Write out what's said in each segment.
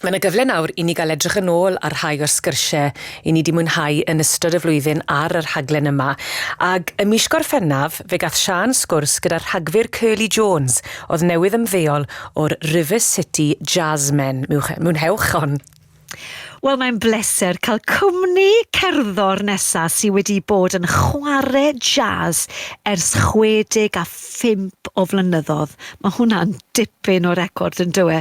Mae 'na gyfle nawr i ni gael edrych yn ôl ar rhai o'r sgyrsiau i ni 'di mwynhau yn ystod y flwyddyn ar y rhaglen yma. Ag ym mis Gorffennaf, fe gath Siân sgwrs gyda'r rhagfyr Curly Jones, oedd newydd ymddeol o'r River City Jazzmen. Mwynhewch hon! Wel, mae'n bleser cael cwmni cerddor nesaf sydd wedi bod yn chwarae jazz ers 65 phump o flynyddodd. Mae hwnna'n dipyn o record yn dywe.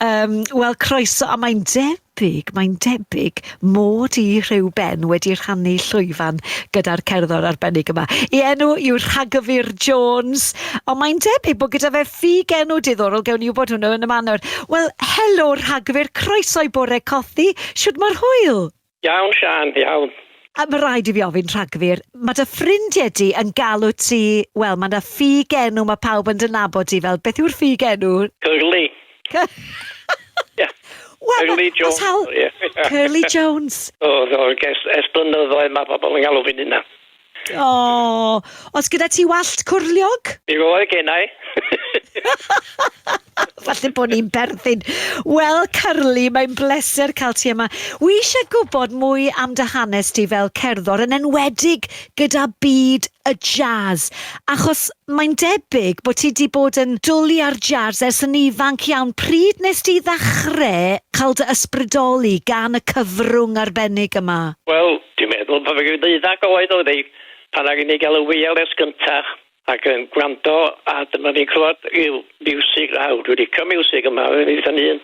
Um, Wel, croeso, a mae'n debyg, mae'n debyg mod i rhyw ben wedi rhannu llwyfan gyda'r cerddor arbennig yma. I enw yw Rhagyfyr Jones, ond mae'n debyg bod gyda fe ffug enw diddorol, gewn ni wybod hwnnw yn y manor. Wel, helo Rhagyfyr, croeso i bore cothi, siwt mae'r hwyl? Iawn Siân, iawn. A ma raid i fi ofyn Rhagfyr, ma dy ffrindie di yn galw ti, wel ma na ffug enw ma pawb yn dy nabod di fel, beth yw'r ffug enw? Curly. Ie. Wel ma Curly Jones o ie. Curly Jones. O do, ers blynyddoedd ma pobl yn galw fi'n hynna. O! Oes gyda ti wallt cwrliog? Yw oe gennai. Falle bod ni'n berthyn. Wel, Curly, mae'n bleser cael ti yma. Wi eisiau gwybod mwy am dy hanes di fel cerddor, yn enwedig gyda byd y jazz, achos mae'n debyg bod ti wedi bod yn dwl i ar jazz ers yn ifanc iawn. Pryd nes di ddechrau cael dy ysbrydoli gan y cyfrwng arbennig yma? Wel, Dwi'n meddwl bod fi ddeuddag oed oedd hi pan aru ni gael y wireless gynta ac yn gwrando a dyma ni'n clywed ryw fiwsig lawr, dwi licio miwsig yma yn ei phen hun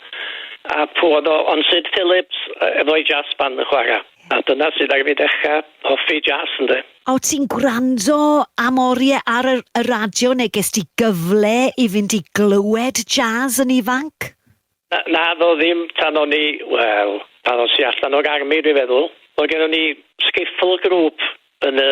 a pw oedd o ond Sid Phillips efo'i jazz band yn chwara a dyna sydd aru fi dechra hoffi jazz ynde. O ti'n gwrando am orie ar y y radio neu gest ti gyfle i fynd i glywed jazz yn ifanc? Na, naddo ddim tan o'n i, wel, pan os i allan o'r army dwi'n feddwl. Oedd gennon ni skiffle group yn y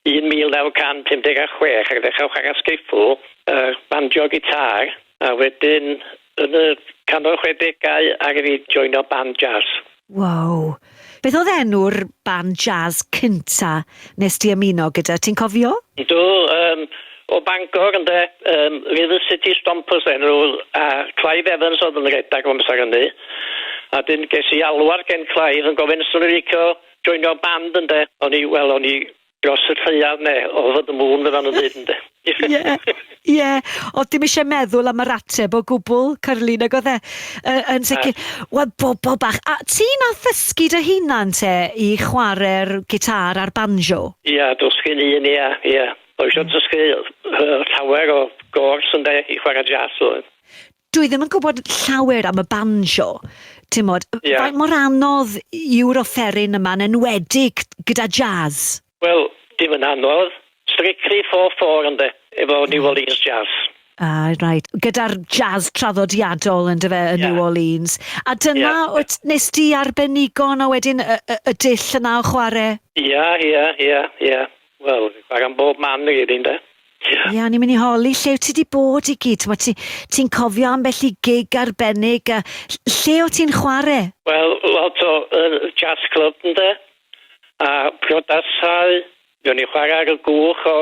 1956 ac ddechrau chwarae skiffle, yy banjo guitar a wedyn yn y canol chwedegau aru fi joino band jazz. Wow! Beth oedd enw'r band jazz cynta nes di ymuno gyda, ti'n cofio? Ydw, yym, o Bangor ynde, yym, River City Stompers oedd enw nhw, a Clive Evans oedd yn redag o amser hynny, a 'dyn ges i alwad gen Clive yn gofyn 'swn i'n licio joinio band ynde, o'n i, wel o'n i Dros y lleiaf ne' over the moon fel ma' nw'n deud ynde? Ie ie o'dd dim isie meddwl am yr ateb o gwbwl Carly nag o'dd e? Yy yn sicir. Wel bobol bach a ti nath ddysgu dy hunan te i chware'r gitâr a'r banjo? Ia dysgu fy hun ia ia. O isio dysgu yy llawer o gôrs ynde i chware jazz oedd. dwi ddim yn gwybod llawer am y banjo, ti'n modd, yeah. faint mor anodd yw'r offeryn yma'n enwedig gyda jazz? Wel, dim yn anodd, strictly 4-4 ynddo, efo New hmm. Orleans Jazz. Ah, right. Gyda'r jazz traddodiadol yn dyfe yn yeah. New Orleans. A dyna, yeah. wyt, nes di arbenigo yna wedyn y, y, y dull yna o chwarae? Ia, ia, ia, ia. Wel fi'n chwarae am bob man i gyd ynde? Ie. Ie o'n i'n mynd i holi lle wyt ti 'di bod i gyd t'mod ti ti'n cofio ambell i gig arbennig a ll- lle o' ti'n chware? Wel lot o yy jazz club ynde? A priodasau mi o'n i'n chware ar y gwch o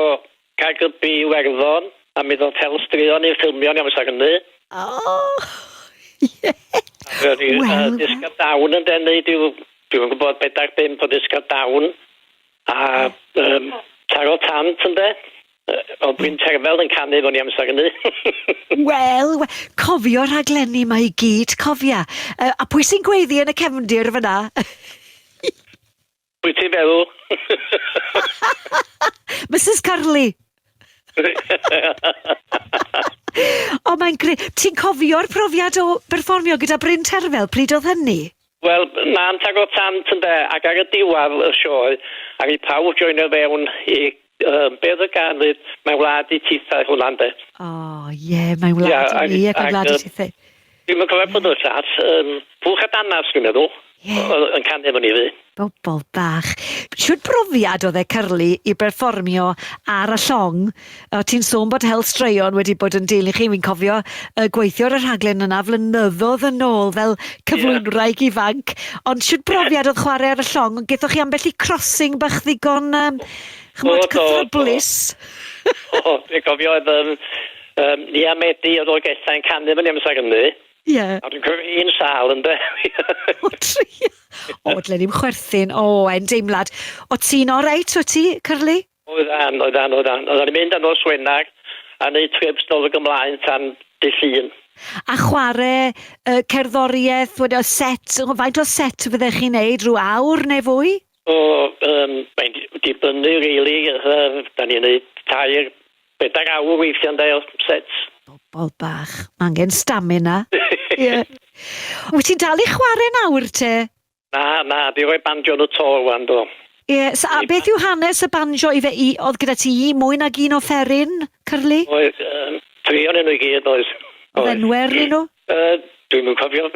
Caergybi i Werddon a mi ddoth Hel Straeon i'n ffilmio ni amser hynny. O! Ie! A mi o'n i yy Wel wel. Disca Down ynde neud ryw dwi'm yn gwbod bedair bump o Disca Down A yym taro tant ynde? Yy o Bryn Terfel yn canu efo ni amser hynny. Wel, we- cofio rhaglenni 'ma i gyd, cofia. Yy, a pwy sy'n gweiddi yn y cefndir fyna? Pwy ti'n feddwl? Misus Curley! O, mae'n gre-. Ti'n cofio'r profiad o berfformio gyda Bryn Terfel, pryd oedd hynny? Wel mam tag o tant ynde ac ar y diwadd y sioe ar i pawb joinio fewn i yy be o'dd y gan ddeud mae wlad i tithe hwnna ynde? O ie mae wlad i ni ac mae wlad i tithe. Dwi'm yn cofio pwy o'dd y llall yym Pwll a Danarth dwi'n meddwl. Ie. O'dd yn canu efo ni 'fyd. Bobol bach. Shwd brofiad o'dd e Curly i berfformio ar y llong A ti'n sôn bod hel straeon wedi bod yn deulu chi, fi'n cofio uh, gweithio ar y rhaglen yna flynyddoedd yn ôl fel cyflwynwraig yeah. ifanc, ond siwt brofiad oedd chwarae ar y llong, ond gethoch chi ambell i crossing bach ddigon, um, chymod, cythryblus. O, o, dwi'n cofio oedd um, um, Nia Medi oedd o'r gethau yn canu fyny amser hynny. Ie. Yeah. A dwi'n cofio un sal yn de. o, tri. O, dlen i'n chwerthin. O, e'n deimlad. O ti'n oreit, o ti, Cyrlu? Oeddan, oeddan, oeddan. Oeddan ni'n mynd â nos Wener a neud trips nôl ag ymlaen tan dy' Llun. A chware y cerddoriaeth, wedi o set, faint o set fyddech chi'n neud, rhyw awr neu fwy? O, yym, mae'n dibynnu rili, yym, 'dan ni'n neud tair, bedair awr weithia' ynde o sets. Bobol bach, ma' angen stamina. Ie. Wyt ti'n dal i chware nawr te? Na, na, di roi banjo yn y to rwan do. Ie, so a beth yw hanes y banjo ife i- oedd gyda ti mwy nag un offeryn, Curly? Oedd, yym, tri onyn nhw i gyd oedd. Oedd enwe arnyn nhw? Yy, dwi'm yn cofio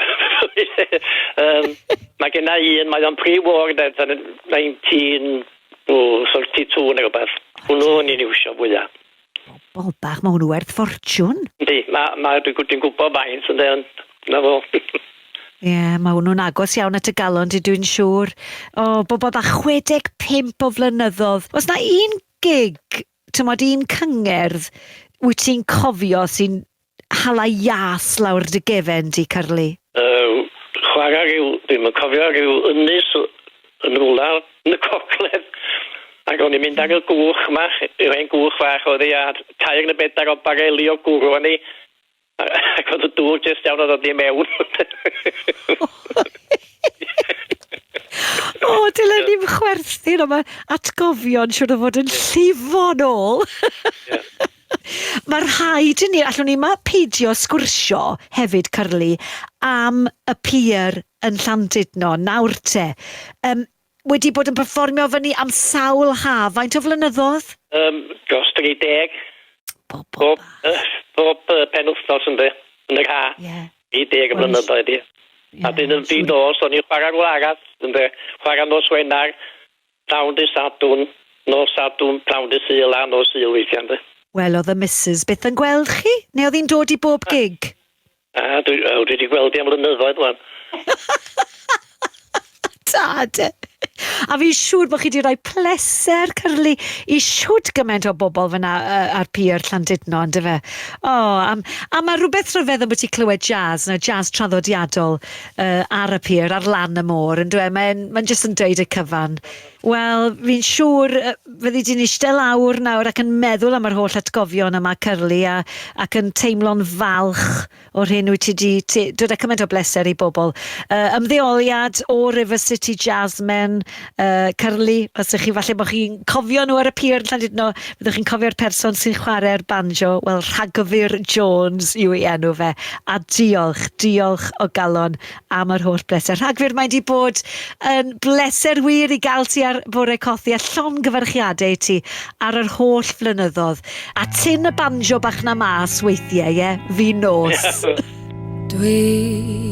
yym ma' genna i un mae o'n pre-war de fel yn nineteen o thirty two ne' rwbeth. Hwnnw o'n i'n iwsio fwya. Bobol bach, ma' hwnnw werth ffortiwn! Yndi, ma' ma' dwi gw- dwi'n gwbo faint ynde ond 'na fo. Ie, ma' hwnnw'n agos iawn at y galon di dwi'n siŵr. O, bobol bach, 65 o flynyddodd. O's 'na un gig, t'mod un cyngerdd, wyt ti'n cofio sy'n Hala iâs lawr dy gefen di, Curly. Yy, chwarae ryw, dwi'm yn cofio, ryw ynys yn rywla yn y gogledd, ac o'n i'n mynd ar y gwch 'ma, yr hen gwch fach oedd hi, a tair neu bedair o bareli o gwrw arni, a- ac oedd y dŵr jyst iawn o ddod i mewn. O, dylen ni'm chwerthin, ond mae atgofion siŵr o fod yn llifo'n ôl! Mae rhaid i ni, allwn ni ma peidio sgwrsio hefyd, Curly, am y pier yn Llandudno, nawr te. Um, wedi bod yn performio fyny am sawl haf, faint o flynyddoedd? Um, dros 30. Bob, bob, uh, bob uh, pen wythnos yn dde, yn yr ha. Yeah. 30 well, flynyddoedd, ie. Yeah, a dyn yn dyn nos, o'n i'n chwarae rhywle arall, yn dde, chwarae nos Wenar, Pnawn Dydd Sadwrn, nos Sadwrn, pnawn Dydd Sul a nos Sul weithiau ynde? Wel oedd y Misus byth yn gweld chi? Neu oedd hi'n dod i bob gig? Na, dwi, wel dwi di gweld hi am flynyddoedd wan. Da de! A fi'n siŵr bod chi wedi rhoi pleser cyrlu i siwt gymaint o bobl fyna uh, ar pier Llandudno, ynddo fe? O, oh, a, a mae rhywbeth rhyfedd am bod ti clywed jazz, na jazz traddodiadol, yy ar y pier ar lan y môr yndyw e? Mae'n mae'n jyst yn dweud y cyfan. Wel, fi'n siŵr yy fyddi di'n eistedd lawr nawr ac yn meddwl am yr holl atgofion yma Curly a ac yn teimlo'n falch o'r hyn wyt ti 'di ti dod â cymaint o bleser i bobl. Yy ymddeoliad o River City Jazzmen uh, Curly, os ydych chi, falle bod chi'n cofio nhw ar y pier yn Llandudno, byddwch chi'n cofio'r person sy'n chwarae'r banjo, wel, Rhagfyr Jones yw ei enw fe. A diolch, diolch o galon am yr holl bleser. Rhagfyr, mae wedi bod yn bleser wir i gael ti ar Bore Cothi a llon gyfarchiadau i ti ar yr holl flynyddoedd. A tyn y banjo bach na mas weithiau, ie? Fi nos. Dwi